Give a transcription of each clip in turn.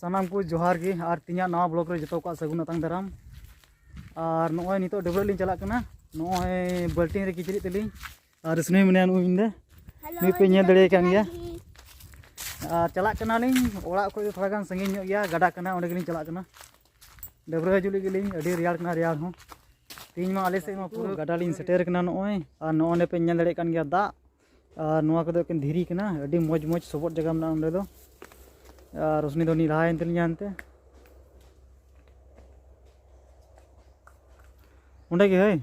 ᱥᱟᱱᱟᱢ ᱠᱚ ᱡᱚᱦᱟᱨ ᱜᱮ ᱟᱨ ᱛᱤᱧᱟᱹᱜ ᱱᱟᱣᱟ ᱵᱞᱚᱜ ᱨᱮ ᱡᱚᱛᱚ ᱠᱚᱣᱟᱜ ᱥᱟᱹᱜᱩᱱ ᱟᱛᱟᱝ ᱫᱟᱨᱟᱢ ᱟᱨ ᱱᱚᱜᱼᱚᱭ ᱱᱤᱛᱚᱜ ᱰᱟᱹᱵᱽᱨᱟᱹᱜ ᱞᱤᱧ ᱪᱟᱞᱟᱜ ᱠᱟᱱᱟ ᱱᱚᱜᱼᱚᱭ ᱵᱟᱹᱞᱴᱤᱱ ᱨᱮ ᱠᱤᱪᱨᱤᱡ ᱛᱮᱞᱤᱧ ᱟᱨ ᱥᱩᱱᱩᱭ ᱢᱮᱱᱟᱭᱟ ᱱᱩᱭ ᱤᱧ ᱫᱚ ᱱᱩᱭ ᱯᱮ ᱧᱮᱞ ᱫᱟᱲᱮᱭᱟᱭ ᱠᱟᱱ ᱜᱮᱭᱟ ᱟᱨ ᱪᱟᱞᱟᱜ ᱠᱟᱱᱟᱞᱤᱧ ᱚᱲᱟᱜ ᱠᱷᱚᱡ ᱫᱚ ᱛᱷᱚᱲᱟ ᱜᱟᱱ ᱥᱟᱺᱜᱤᱧ ᱧᱚᱜ ᱜᱮᱭᱟ ᱜᱟᱰᱟ ᱠᱟᱱᱟ ᱚᱸᱰᱮ ᱜᱮᱞᱤᱧ ᱪᱟᱞᱟᱜ ᱠᱟᱱᱟ ᱰᱟᱹᱵᱽᱨᱟᱹ ᱦᱤᱡᱩᱜ ᱞᱟᱹᱜᱤᱫ ᱞᱤᱧ ᱟᱹᱰᱤ ᱨᱮᱭᱟᱲ ᱠᱟᱱᱟ ᱨᱮᱭᱟᱲ ᱦᱚᱸ ᱛᱮᱦᱮᱧ ᱢᱟ ᱟᱞᱮ ᱥᱮᱫ ᱢᱟ ᱯᱩᱨᱟᱹ ᱜᱟᱰᱟ ᱞᱤᱧ ᱥᱮᱴᱮᱨ ᱠᱟᱱᱟ ᱱᱚᱜᱼᱚᱭ ᱟᱨ ᱱᱚᱜᱼᱚ ᱱᱚᱸᱰᱮ ᱯᱮ ᱧᱮᱞ ᱫᱟᱲᱮᱭᱟᱜ ᱠᱟᱱ ᱜᱮᱭᱟ ᱫᱟᱜ ᱟᱨ ᱱᱚᱣᱟ ᱠᱚᱫᱚ ᱮᱠᱮᱱ ᱫᱷᱤᱨᱤ ᱠᱟᱱᱟ ᱟᱹᱰᱤ ᱢᱚᱡᱽ ᱢᱚᱡᱽ ᱥᱚᱵᱚᱫ ᱡᱟᱭᱜᱟ ᱢᱮᱱᱟᱜᱼᱟ ᱚᱸᱰᱮ ᱫᱚ ᱟᱨ ᱨᱳᱥᱱᱤ ᱫᱚ ᱩᱱᱤ ᱞᱟᱦᱟᱭᱮᱱ ᱛᱟᱹᱞᱤᱧᱟ ᱦᱟᱱᱛᱮ ᱚᱸᱰᱮ ᱜᱮ ᱦᱳᱭ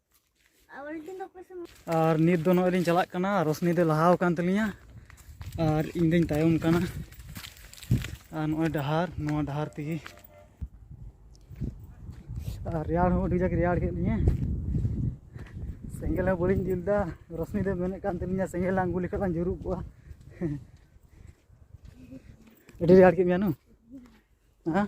ᱟᱨ ᱱᱤᱛ ᱫᱚ ᱱᱚᱜᱼᱚᱭ ᱞᱤᱧ ᱪᱟᱞᱟᱜ ᱠᱟᱱᱟ ᱨᱚᱥᱱᱤ ᱫᱚ ᱞᱟᱦᱟᱣ ᱟᱠᱟᱱ ᱛᱟᱹᱞᱤᱧᱟ ᱟᱨ ᱤᱧ ᱫᱚᱧ ᱛᱟᱭᱚᱢ ᱠᱟᱱᱟ ᱟᱨ ᱱᱚᱜᱼᱚᱭ ᱰᱟᱦᱟᱨ ᱱᱚᱣᱟ ᱰᱟᱦᱟᱨ ᱛᱮᱜᱮ ᱟᱨ ᱨᱮᱭᱟᱲ ᱦᱚᱸ ᱟᱹᱰᱤ ᱡᱟᱠ ᱨᱮᱭᱟᱲ ᱠᱮᱫ ᱞᱤᱧᱟᱹ ᱥᱮᱸᱜᱮᱞ ᱦᱚᱸ ᱵᱟᱹᱞᱤᱧ ᱡᱩᱞ ᱮᱫᱟ ᱨᱚᱥᱱᱤ ᱫᱚ ᱢᱮᱱᱮᱫ ᱠᱟᱱ ᱛᱟᱹᱞᱤᱧᱟ ᱥᱮᱸᱜᱮᱞ ᱞᱟᱝ ᱜᱩᱞ ᱞᱮᱠᱷᱟᱱ ᱞᱟᱝ ᱡᱩᱨᱩᱜ ᱠᱚᱜᱼᱟ ᱟᱹᱰᱤ ᱨᱮᱭᱟᱲ ᱠᱮᱫ ᱢᱮᱭᱟ ᱱᱩ ᱦᱮᱸ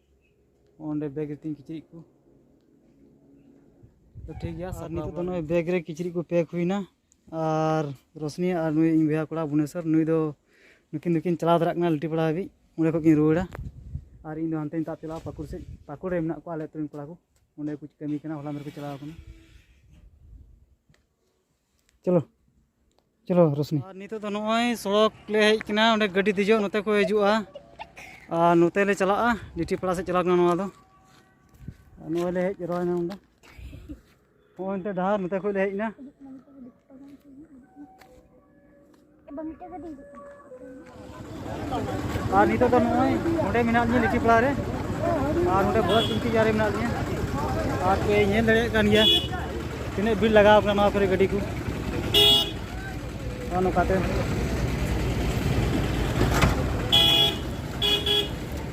ᱚᱸᱰᱮ ᱵᱮᱜᱽ ᱨᱮᱛᱤᱧ ᱠᱤᱪᱨᱤᱡ ᱠᱚ ᱛᱚ ᱴᱷᱤᱠ ᱜᱮᱭᱟ ᱟᱨ ᱱᱤᱛᱚᱜ ᱫᱚ ᱱᱚᱜᱼᱚᱭ ᱵᱮᱜᱽ ᱨᱮ ᱠᱤᱪᱨᱤᱡ ᱠᱚ ᱯᱮᱠ ᱦᱩᱭᱱᱟ ᱟᱨ ᱨᱚᱥᱱᱤ ᱟᱨ ᱱᱩᱭ ᱤᱧ ᱵᱚᱭᱦᱟ ᱠᱚᱲᱟ ᱵᱷᱩᱵᱽᱱᱮᱥᱚᱨ ᱱᱩᱭ ᱫᱚ ᱱᱩᱠᱤᱱ ᱫᱚᱠᱤᱱ ᱪᱟᱞᱟᱣ ᱫᱟᱲᱮᱭᱟᱜ ᱠᱟᱱᱟ ᱞᱤᱴᱤᱯᱟᱲᱟ ᱦᱟᱹᱵᱤᱡ ᱚᱸᱰᱮ ᱠᱷᱚᱡ ᱠᱤᱱ ᱨᱩᱣᱟᱹᱲᱟ ᱟᱨ ᱤᱧ ᱫᱚ ᱦᱟᱱᱛᱮᱧ ᱛᱟᱵ ᱪᱟᱞᱟᱜᱼᱟ ᱯᱟᱹᱠᱩᱲ ᱥᱮᱫ ᱯᱟᱹᱠᱩᱲ ᱨᱮ ᱢᱮᱱᱟᱜ ᱠᱚᱣᱟ ᱟᱞᱮ ᱟᱹᱛᱩ ᱨᱮᱱ ᱠᱚᱲᱟ ᱠᱚ ᱚᱸᱰᱮ ᱠᱚ ᱠᱟᱹᱢᱤ ᱠᱟᱱᱟ ᱦᱚᱞᱟ ᱢᱟᱫᱷᱮᱨ ᱠᱚ ᱪᱟᱞᱟᱣ ᱠᱟᱱᱟ ᱪᱚᱞᱚ ᱪᱚᱞᱚ ᱨᱚᱥᱱᱤ ᱟᱨ ᱱᱤᱛᱚᱜ ᱫᱚ ᱱᱚᱜᱼᱚᱭ ᱥᱚᱲᱚᱠ ᱞᱮ ᱦᱮᱡ ᱠᱟᱱᱟ ᱚᱸᱰᱮ ᱜᱟᱹᱰᱤ ᱫᱮᱡᱚᱜ ᱱᱚᱛᱮ ᱠᱚ ᱦᱤᱡᱩᱜᱼᱟ ᱟᱨ ᱱᱚᱛᱮ ᱞᱮ ᱪᱟᱞᱟᱜᱼᱟ ᱰᱤᱴᱤ ᱯᱟᱲᱟ ᱥᱮᱫ ᱪᱟᱞᱟᱣ ᱠᱟᱱᱟ ᱱᱚᱣᱟ ᱫᱚ ᱱᱚᱜᱼᱚᱭ ᱞᱮ ᱦᱮᱡ ᱨᱚᱦᱚᱭᱱᱟ ᱱᱚᱰᱮ ᱱᱚᱜᱼᱚᱭ ᱱᱚᱛᱮ ᱰᱟᱦᱟᱨ ᱱᱚᱛᱮ ᱠᱷᱚᱡ ᱞᱮ ᱦᱮᱡ ᱮᱱᱟ ᱟᱨ ᱱᱤᱛᱚᱜ ᱫᱚ ᱱᱚᱜᱼᱚᱭ ᱱᱚᱰᱮ ᱢᱮᱱᱟᱜ ᱞᱤᱧᱟ ᱞᱤᱴᱤ ᱯᱟᱲᱟ ᱨᱮ ᱟᱨ ᱱᱚᱰᱮ ᱵᱚᱦᱚᱛ ᱪᱤᱱᱛᱤ ᱡᱟᱨᱮ ᱢᱮᱱᱟᱜ ᱞᱤᱧᱟ ᱟᱨ ᱯᱮ ᱧᱮᱞ ᱫᱟᱲᱮᱭᱟᱜ ᱠᱟᱱ ᱜᱮᱭᱟ ᱛᱤᱱᱟᱹᱜ ᱵᱷᱤᱲ ᱞᱟᱜᱟᱣ ᱠᱟᱱᱟ ᱱᱚᱣᱟ ᱠᱚᱨᱮ ᱜᱟᱹᱰᱤ ᱠᱚ ᱱᱚᱜᱼᱚ ᱱᱚᱝᱠᱟᱛᱮ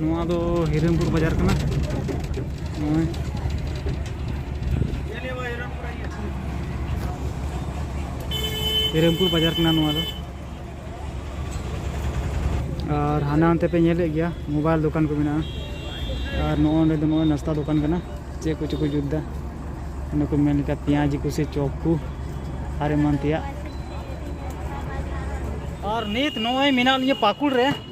ᱱᱚᱣᱟ ᱫᱚ ᱦᱤᱨᱤᱢᱯᱩᱨ ᱵᱟᱡᱟᱨ ᱠᱟᱱᱟ ᱱᱚᱜᱼᱚᱭ ᱦᱤᱨᱤᱢᱯᱩᱨ ᱵᱟᱡᱟᱨ ᱠᱟᱱᱟ ᱱᱚᱣᱟ ᱫᱚ ᱟᱨ ᱦᱟᱱᱟ ᱦᱟᱱᱛᱮ ᱯᱮ ᱧᱮᱞᱮᱫ ᱜᱮᱭᱟ ᱢᱳᱵᱟᱭᱤᱞ ᱫᱚᱠᱟᱱ ᱠᱚ ᱢᱮᱱᱟᱜᱼᱟ ᱟᱨ ᱱᱚᱜᱼᱚ ᱱᱚᱸᱰᱮ ᱫᱚ ᱱᱚᱜᱼᱚᱭ ᱱᱟᱥᱛᱟ ᱫᱚᱠᱟᱱ ᱠᱟᱱᱟ ᱪᱮᱫ ᱠᱚᱪᱚ ᱠᱚ ᱡᱩᱛ ᱮᱫᱟ ᱚᱱᱟ ᱠᱚ ᱢᱮᱱ ᱞᱮᱠᱟ ᱯᱮᱸᱭᱟᱡᱽ ᱠᱚ ᱥᱮ ᱪᱚᱯ ᱠᱚ ᱟᱨ ᱮᱢᱟᱱ ᱛᱮᱭᱟᱜ ᱟᱨ ᱱᱤᱛ ᱱᱚᱜᱼᱚᱭ ᱢᱮᱱᱟᱜ ᱞᱤᱧᱟᱹ ᱯᱟᱹᱠᱩᱲ ᱨᱮ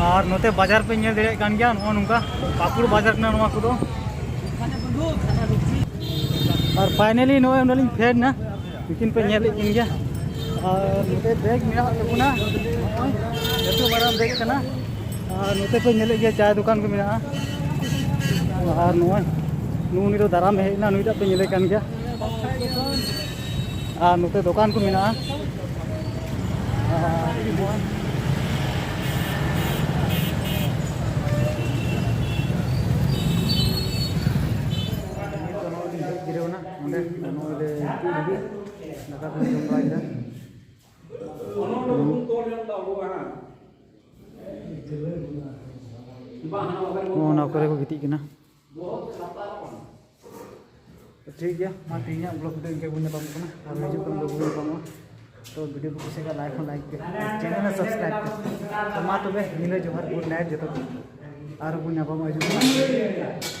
ᱟᱨ ᱱᱚᱛᱮ ᱵᱟᱡᱟᱨ ᱯᱮ ᱧᱮᱞ ᱫᱟᱲᱮᱭᱟᱜ ᱠᱟᱱ ᱜᱮᱭᱟ ᱱᱚᱜᱼᱚ ᱱᱚᱝᱠᱟ ᱯᱟᱹᱠᱩᱲ ᱵᱟᱡᱟᱨ ᱠᱟᱱᱟ ᱱᱚᱣᱟ ᱠᱚᱫᱚ ᱟᱨ ᱯᱷᱟᱭᱱᱟᱞᱤ ᱱᱚᱜᱼᱚᱭ ᱚᱸᱰᱮ ᱞᱤᱧ ᱯᱷᱮᱰ ᱮᱱᱟ ᱛᱤᱠᱤᱱ ᱯᱮ ᱧᱮᱞᱮᱫ ᱠᱤᱱ ᱜᱮᱭᱟ ᱟᱨ ᱱᱚᱛᱮ ᱵᱮᱜᱽ ᱢᱮᱱᱟᱜ ᱛᱟᱵᱚᱱᱟ ᱱᱚᱜᱼᱚᱭ ᱞᱟᱹᱴᱩ ᱢᱟᱨᱟᱝ ᱵᱮᱜᱽ ᱠᱟᱱᱟ ᱟᱨ ᱱᱚᱛᱮ ᱯᱮ ᱧᱮᱞᱮᱫ ᱜᱮᱭᱟ ᱪᱟᱭ ᱫᱚᱠᱟᱱ ᱠᱚ ᱢᱮᱱᱟᱜᱼᱟ ᱟᱨ ᱱᱚᱜᱼᱚᱭ ᱱᱩᱜᱼᱩ ᱱᱩᱭ ᱫᱚ ᱫᱟᱨᱟᱢ ᱦᱮᱡ ᱮᱱᱟ ᱱᱩᱭᱴᱟᱜ ᱯᱮ ᱧᱮᱞᱮ ᱠᱟᱱ ᱜᱮᱭᱟ ᱟᱨ ᱱᱚᱛᱮ ᱫᱚᱠᱟᱱ ᱠᱚ ᱢᱮᱱᱟᱜᱼᱟ ᱚᱱᱟ ᱠᱚᱨᱮ ᱠᱚ ᱜᱤᱛᱤᱡ ᱠᱟᱱᱟ ᱴᱷᱤᱠ ᱜᱮᱭᱟ ᱢᱟ ᱛᱮᱦᱮᱧᱟᱜ ᱵᱞᱚᱜ ᱫᱚ ᱤᱱᱠᱟᱹ ᱵᱚᱱ ᱧᱟᱯᱟᱢ ᱠᱟᱱᱟ ᱟᱨ ᱦᱤᱡᱩᱜ ᱠᱟᱱ ᱵᱞᱚᱜ ᱵᱚᱱ ᱧᱟᱯᱟᱢᱚᱜᱼᱟ ᱛᱚ ᱵᱷᱤᱰᱤᱭᱳ ᱠᱚ ᱠᱩᱥᱤ ᱠᱷᱟᱱ ᱞᱟᱭᱤᱠ ᱦᱚᱸ ᱞᱟᱭᱤᱠ ᱯᱮ ᱪᱮᱱᱮᱞ ᱦᱚᱸ ᱥᱟᱵᱥᱠᱨᱟᱭᱤᱵ ᱯᱮ ᱛᱚ ᱢᱟ ᱛᱚᱵᱮ ᱧᱤᱫᱟᱹ ᱡᱚᱦᱟᱨ ᱜᱩᱰ ᱱᱟᱭᱤᱴ ᱡᱚᱛᱚ ᱠᱚ ᱟᱨ ᱵᱚᱱ ᱧᱟᱯᱟᱢᱚᱜᱼᱟ ᱦᱤᱡᱩᱜ ᱠᱟᱱᱟ